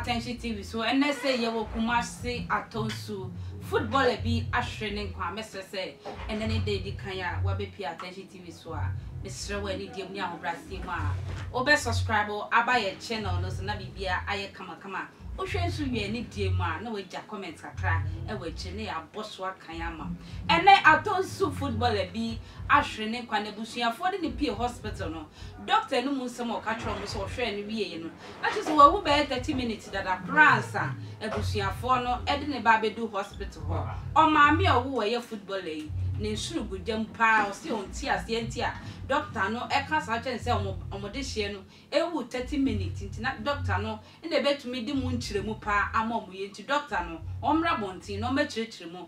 Atɛnhye TV so ɛnɛ sɛ yɛwɔ Kumasi Atonsu footballer bi ahwere ne nkwa mɛsrɛ sɛ ɛnɛ ne da edi kan a wabɛpie Atɛnhye TV TV so a, mesrɛ wo anidie mu ne ahobraseɛ mu a wo bɛ subscribe aba yɛn channel no so na biribiara ayɛ kama kama. Wo hwɛ nso wie anidie mu a na wo agya comment kakra wɔ akyire na yɛ abɔ so aka yɛn ama. Ɛnɛ Atonsu footballer bi ahwere ne nkwa, n'abusuafoɔ de no pie hospital no, doctor no mu nsɛm a ɔka kyerɛɛ wɔn sɛ ɔhwɛɛ no wieɛ no, Na kyerɛ sɛ wawu bɛyɛ thirty minutes dada koraa ansa abusuafoɔ no de no ba abɛdu hospital hɔ. Ɔmaame a ɔwo wɔ yɛ footballer yi ne nsono gu gya mu paa ɔse ɔnte aseɛ nti a doctor no ɛka saa kyerɛ no sɛ ɔmo ɔmo dehyeɛ no ɛwu thirty minutes nti na doctor no na ɛbɛtumi de mu nkyerɛmu paa ama ɔmo yɛ nti doctor no ɔmmra abɔnten na ɔmmɛkyerɛkyerɛ mu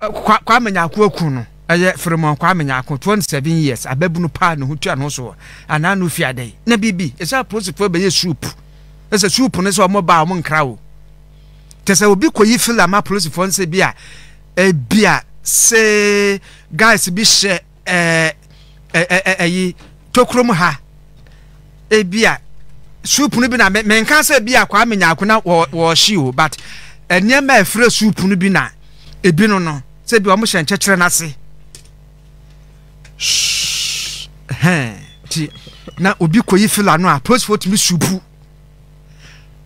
Kwa Kwame Nyarko aku no, ɛyɛ Firimon Kwame Nyarko, 27 years, ababunu paa ne ho tua ne ho so wɔ anaa no fi adɛn na biribi ɛsɛ apolisifoɔ bɛyɛ soup ɛsɛ soup no sɛ wɔn ba wɔn nkra o kyɛ sɛ obi kɔyi fila ma apolisifoɔ nsɛ bi a ebi a se guys bi hyɛ ɛɛ ɛɛ ɛɛ ɛyi tokurom ha ebi a soup no bi na menka sɛ ebi a kwame nyaako na wɔ wɔɔhye o but nneɛma a efirɛ soup no bi na ebi no no sɛ bi wɔn hyɛ nkyɛkyerɛ n'ase shh hɛn ti na obi kɔyi fila no a polisifoɔ tumi supu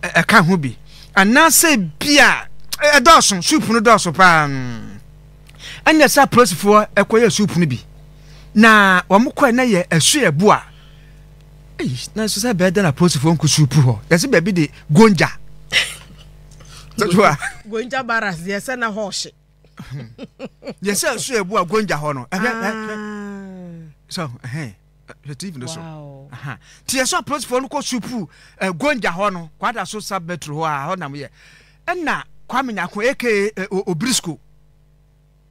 ɛka ho bi anaasɛ bi a ɛdɔɔso soup no dɔɔso paa. Ɛnna saa apolisifoɔ kɔyɛɛ sukuu pono bi, na wɔn kɔɛ na yɛ ɛso yɛ boa. Ei, nanso sɛ bɛɛ dɛ na apolisifoɔ nko sukuu hɔ, yɛsɛ baabi de gonja. Gonja baras deɛ sɛ na hɔ ɔhye. Yɛsɛ ɛso yɛ boa gonja hɔ no. Ah. So, ɛhɛn. hwɛ tv no so nti yɛ sɛ apolisifoɔ no kɔ supuu eh, gonja hɔ no kwada so sub metro hɔ a hɔ nam yɛ ɛna kwame nyako aka eh, obrisco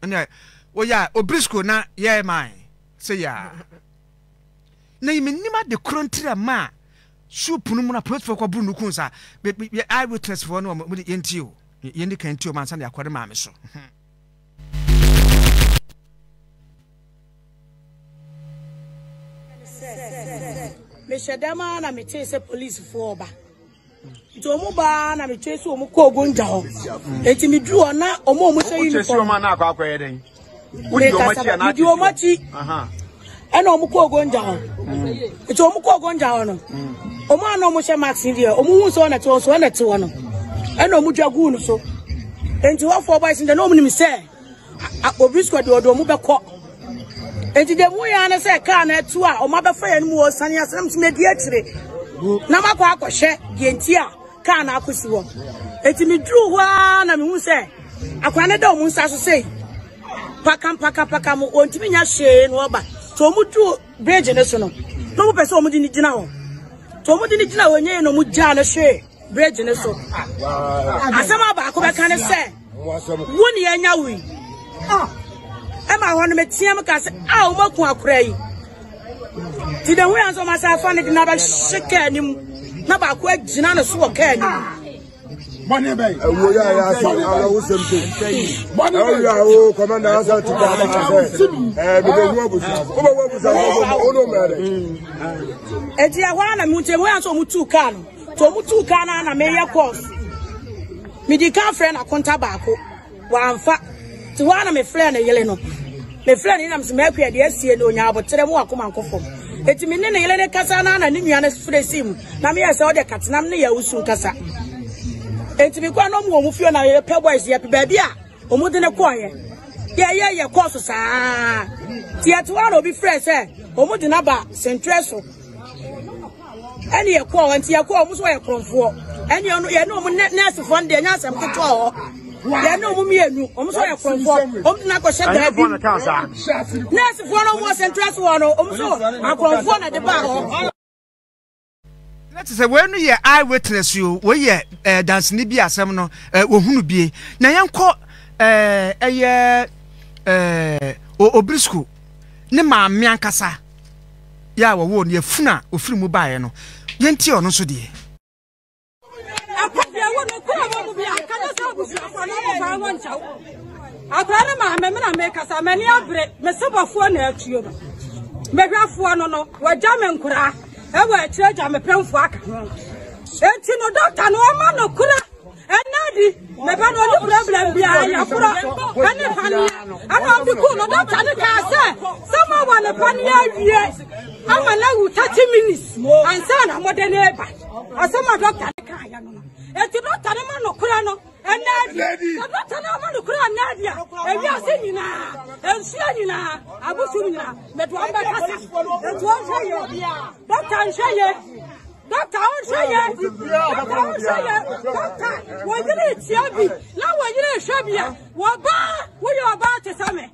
ɛna wɔyɛ a obrisco na yɛ man sɛ yɛ a na yɛ menim ade korɔ ntira ma a supu no mu na apolisifoɔ kɔ buru no kun sa yɛ eye witness foɔ no wɔde yɛnti o yɛndi kan ti o mansa na yɛakɔ ne maame so mehyɛ dɛm ara na metee sɛ polisifoɔ ɔba nti ɔmo baa na metwee sɛ ɔmo kɔ ogongya hɔ nti meduru hɔ na ɔmo ɔmo hyɛ uniform mekasa medi ɔmo akyi ɛna ɔmo kɔ ogongya hɔ nti ɔmo kɔ ogongya hɔ no ɔmo a na ɔmo hyɛ mask deɛ ɔmo hu sɛ ɔna te hɔ so ɔna te hɔ no ɛna ɔmo dwa guu no so nti hɔfoɔ bɔyɛ sɛ na ɔmo nim sɛ Obrisco deɛ ɔde ɔmo bɛkɔ enti deɛ mu yɛ ne sɛ kaa no atu a ɔmo abɛfa yɛn mu ɔsane asɛm so medi akyire na makɔ akɔhwɛ deɛ nti a kaa no akɔsi hɔ enti meduru hɔ a na mehu sɛ akora no da ɔmo nsa so sei pakam pakam pakam ɔntumi nya hwee na ɔba so ɔmo duru bridge no so no na ɔmo pɛ sɛ ɔmo de ne gyina hɔ so ɔmo de ne gyina hɔ nyɛ yɛ na ɔmo gyaa no hwee bridge no so asɛm a baako bɛka ne sɛ Wo ne anya wui. Ah. Ɛma hɔ no meteɛ m ka sɛ a wɔmaku akora yi. Nti na hu yɛ nso ɔmasa afa no de no abɛhye kaa anim na baako agyina no so wɔ kaa anim bɔnɛ bɛ ye. ɛwɔ y'a y'a sɛ ala o sɛm tɛ. bɔnɛ bɛ ye. ɛwɔ y'a o kɔmɛ n'a sɛ ti k'a ma sɛ. ɛɛ bi bɛ wɔ busa. o bɛ wɔ busa o bɛ o n'o mɛ dɛ. ɛdi ɛwɔ ala mi tɛ o y'a sɔrɔ o mu tu kan. nti ɔmo tuu kaa no na meyɛ kɔɔs medi ka frɛ no akonta baako wamfa nti hɔ a na mefrɛ ne yele no mefrɛ ne nam sɛ maakua ɛde asie no ɔnya aboterɛ mu akoma nkɔ fam ɛti me ne ne yele ne kasa no na ne nua no frɛ si mu na meyɛ sɛ wode katenam ne yɛ wosu nkasa ɛti mekɔ a na ɔmo wɔ mu fie na yɛpɛ boys yɛpɛ baabi a Wɔn de no kɔɔyɛ. Yɛyɛ yɛ kɔɔ so saa. Tiɛto ara obi frɛ sɛ wɔn de no aba sɛntrɛ so. Ɛne yɛ kɔɔ hɔ nti yɛ kɔɔ wɔn so yɛ kɔnfoɔ. Ɛne ɔno yɛ ne wɔn nɛɛsefoɔ no deɛ nyɛ asɛm ketewa hɔ. Yɛ ne wɔn mmienu wɔn so yɛ kɔnfoɔ wɔn de no akɔhyɛ daa bi. Nɛɛsefoɔ no wɔn sɛntrɛ so hɔ no wɔn so akɔnfoɔ na de baa hɔ. na te sɛ wei no yɛ eye witness o wei yɛ ɛɛ eh, dansini bi asɛm no ɛɛ eh, wɔhunu bie na yɛnkɔ ɛɛ eh, ɛyɛ ɛɛ obrisco ne maame ankasa yɛ a wɔwɔ no yɛfunu a ofiri mu baeɛ no yɛnti ɔno nso deɛ. Akwadeɛ wɔ no kura wɔn mu bi a ka ne sɛ abusuafoɔ no ɔmo baa wɔn nkyɛw. Akwadaa no maame me na mekasa m'ani abere me sebɔfoɔ na atuo no. Mehwɛfoɔ no no wɔagya me nkoraa ɛwɔ akyire agya me pɛmfoɔ aka ho. Eti no dɔkta no ɔma no kura ɛnna di meba no ɔne problem biara yɛkorɔ ɛne paneɛ ɛna ɔde kuu no dɔkta no kaa sɛ sɛ moawa ne paneɛ awie ama no awu 30 minutes ansa na mode ne ba Ɔsɛ ma dɔkta ne kaa ya no no. Eti dɔkta ne ma no kura no ɛnna adi. Sɛ dɔkta ne ma no kura ɛnna adi a ewi ase nyinaa nsuo nyinaa abusu nyinaa mɛdo wɔn bɛ kasa. Etu ɔnhwɛ yɛ dɔkta nhwɛ yɛ dɔkta ɔnhwɛ yɛ dɔkta ɔnhwɛ yɛ dɔkta wɔnyere etia bi na wɔnyere ehwɛ bi a wɔbaa wɔyɛ ɔbaa te sɛ mɛ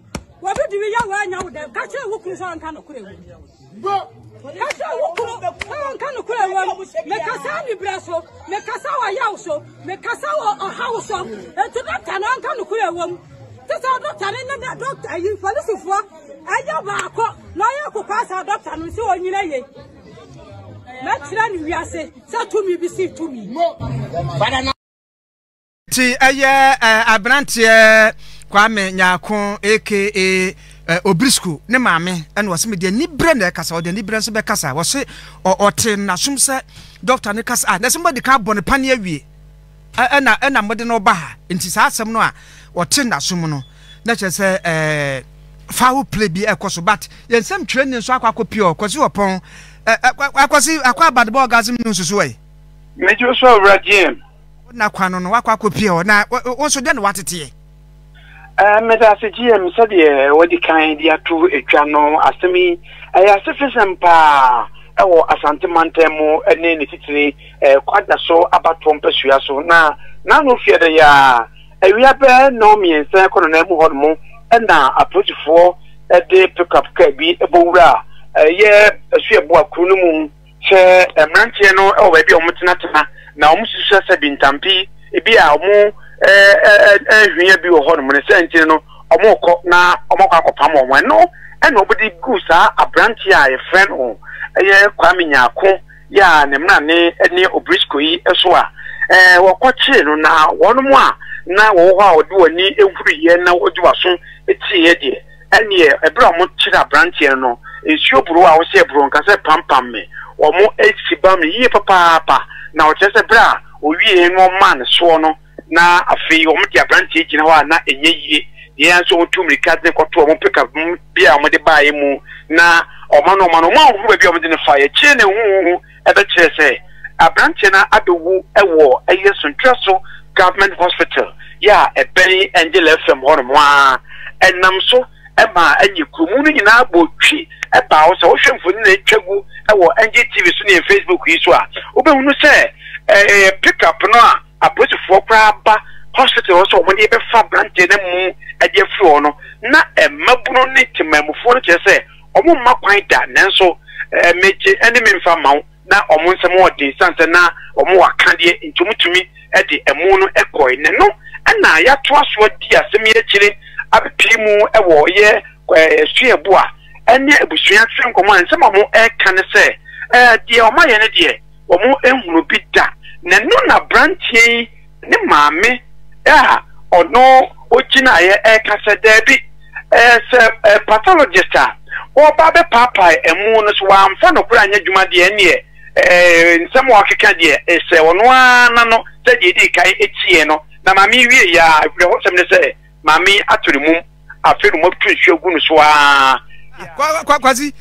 wɔbi diwi yɛ wɔanya wo dɛm kakyɛ ewu kuru sɛ ɔnka no kura ewu. Bro, kasa wo kunu nka nokorɛ wam mekasa aniberɛ so mekasa wɔ yaw so mekasa wɔ ɔhaw so nti dɔkta no nka nokorɛ wam te sɛ dɔkta no ne dɔkta yi polisifoɔ ɛyɛ baako na ɔyɛ kokɔ asa dɔkta no sɛ ɔnyina yei mɛkyerɛ ne wiase sɛ tumi bi si tumi Ti ɛyɛ eh, aberanteɛ Kwame Nyarko aka eh, Obrisco ne maame ɛna ɔse mede aniberɛ na ɛkasa ɔde aniberɛ nso bɛkasa ɔse ɔte nasom sɛ dɔkta no kasa a na sɛ mode ka abɔ no pane awie ɛna ɛna mode no ba ha nti saa asɛm no a ɔte nasom no na kyerɛ sɛ eh, foul play bi ɛkɔ so but yɛn nsɛm twerɛni nso akɔ akɔ pure ɔkɔsi ɔpɔn akɔsi akɔ abadebɔ orgasm no nsusuɛ. Mejo so awura GM. Ɔna kwan no no wakɔ akɔpie hɔ na wo nso dɛn na wateteɛ? Eh, meda ase GM sɛdeɛ wadi kan de ato atwa no asɛm yi ɛyɛ asefesɛm paa ɛwɔ Asante mantam mu ne ne titire eh, kwada so abatoɔ mpasua so na n'ano fie dɛ yaa awia bɛɛ nnɔn mmiɛnsa kɔ nɔnan mu hɔ nom ɛna apolisifoɔ ɛde pickup kaa bi ɛbɔ wura ɛyɛ ɛso ɛboa kuro no mu Sɛ mmeranteɛ no wɔ baabi a wɔn tenatena na wɔn susua sɛ bintampi bi a wɔn ɛɛhwia bi wɔ hɔ nom no sɛ nti no wɔn rekɔ na wɔn akɔ akɔpam wɔn ɛno ɛna wɔn de gu saa abranteɛ a yɛfrɛ no ɛyɛ Kwame Nyako yɛ a ne mmra ne ɛne Obrisco yi ɛso a ɛɛ wɔkɔ kyee no na wɔn mo a na wɔwɔ hɔ a wɔde wɔn ani ehuri yɛ na wɔde wɔn aso etie yɛ deɛ Ɛnneɛ berɛ a wɔkyere aberanteɛ no no, nsuo boroo a ɔhyɛɛ boroo nka sɛ pampam me. Wɔasi bam no yie papaapa, na ɔkyerɛ sɛ berɛ a ɔwieeɛ no wɔmaa no soɔ no, na afei wɔde aberanteɛ gyina hɔ a na ɛnyɛ yie. Deɛ ɛyɛ ara nso wɔtuu mmirika de no kɔtoo wɔn pickup bi a wɔde baeɛ mu, na wɔma no wɔma no wɔanhunu baabi a wɔde no faeɛ. Akyire na ɛhuhuhu. ɛbɛkyerɛɛ sɛ aberanteɛ no abɛwu wɔ ɛyɛ Sontuaso Government Hospital yɛ a ɛbɛn Angela FM hɔ nom a ɛnam so ma ɛnyɛ kuromu no nyinaa bɔ twi baa hɔ. Sɛ wohwɛ mfoni na ɛtwa gu wɔ NGTV so ne Facebook yi so a wobɛhunu sɛ ɛyɛ pickup no a apolisifoɔ koraa ba hospital hɔ sɛ wɔn de bɛfa aberanteɛ no mu ɛde afiri hɔ no na mmabunu ne temanmufoɔ no kyerɛ sɛ Wɔremma kwan da, nanso megye ne me mfa mma wo. Ná wɔn nsam wɔ den esiane sɛ na wɔwɔ akadeɛ nti wɔtumi de amu no kɔe. Na ɛno na yɛatoa so adi asɛm yi akyire abɛpue mu wɔ yɛn suabu a ɛne abusua ase nkɔmmɔ a nsɛm a wɔreka ne sɛ, Deɛ wɔayɛ no deɛ, wɔanhunu bi da. Na ɛno na aberanteɛ yi Ne maame a ɔno ogyinaeɛ ɛka sɛ, Daabi, ɛɛ, sɛ ɛɛ pathologist a ɔreba abɛpaapae ɛmo no, sɛ wamfa nokorɛ anyɛ adwuma deɛ, ɛnneɛ ɛɛ nsɛm a ɔkeka deɛ, ɛsɛ ɔno ara n'ano sɛ deɛ ɛdii kan ɛtiee no. Na maame yi wieeɛ ara, awerɛhosɛm ne sɛ, maame yi ato ne mum, afei na wɔatu nsuo agu no so ara. Kwa, kwa, Kwasi,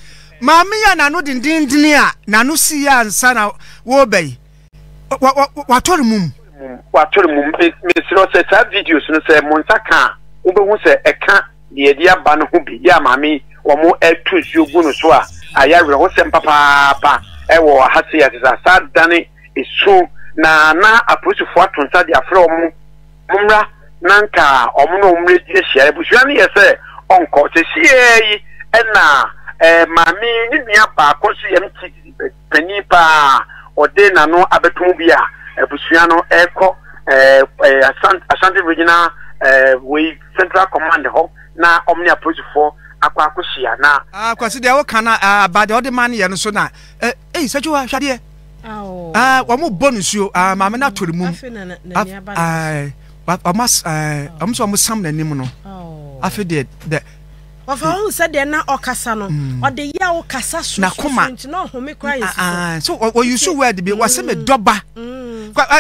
maame yi a n'ano dendenndene a n'ano siiɛ ansa na wɔreba yi, watɔre mum watɔre mum mesrɛ sɛ saa videos no sɛ mo nsa ka a wobɛhu sɛ ɛka deɛ ɛde aba no ho bi yɛ a maame yi wɔn atu nsuo gu no so a ayɛ awerɛhosɛm papaapa ɛwɔ ha se ase sɛ asa dane esu na na apolisifoɔ ato nsa de afrɛ wɔn mommra na nka wɔn na wɔn redi ahyia abusua no yɛ sɛ ɔnkɔ sɛ siɛ yi ɛna ɛɛ maame ne nua baako nso yɛm ti panin paa a ɔde n'ano abɛto mu bi a abusua no rekɔ ɛɛ Asante Asante Regional ɛɛ wei Central Command hɔ na wɔn ne apolisifoɔ akɔ akɔhyia na. Ah, Kwasi deɛ woka no ah, ba deɛ ɔde ma no yɛ no so na eh, ei Sajoa hwɛ adeɛ ah, wɔn bɔ no suo ah, maame no ato ne mum ah, wɔn as ah, wɔn sɛ wɔn sam n'anim no afei deɛ dɛ Ɔfa ɔhu sɛdeɛ na ɔkasa no, mm. ɔde yɛ wo kasa so n'akoma nti na ɔhome kora yɛ soso. So ɔyusu word bi wɔsi mi dɔba.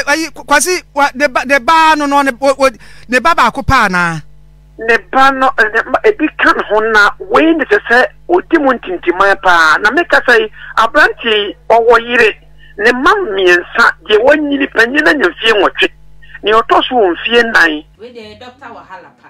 Ayi kwasi ne ba ne ba no no ne ba baako paa naa. Ne ba no ebi ka ne ho na wei ne sɛ sɛ odi mu ntintiman paa na meka sɛ yi aberante yi ɔwɔ yere ne mma mmiɛnsa deɛ wɔnyini panyin na nya mfie nwɔtwe nea ɔtɔ so wɔ mfie nan. Wei deɛ dɔkta wahala paa.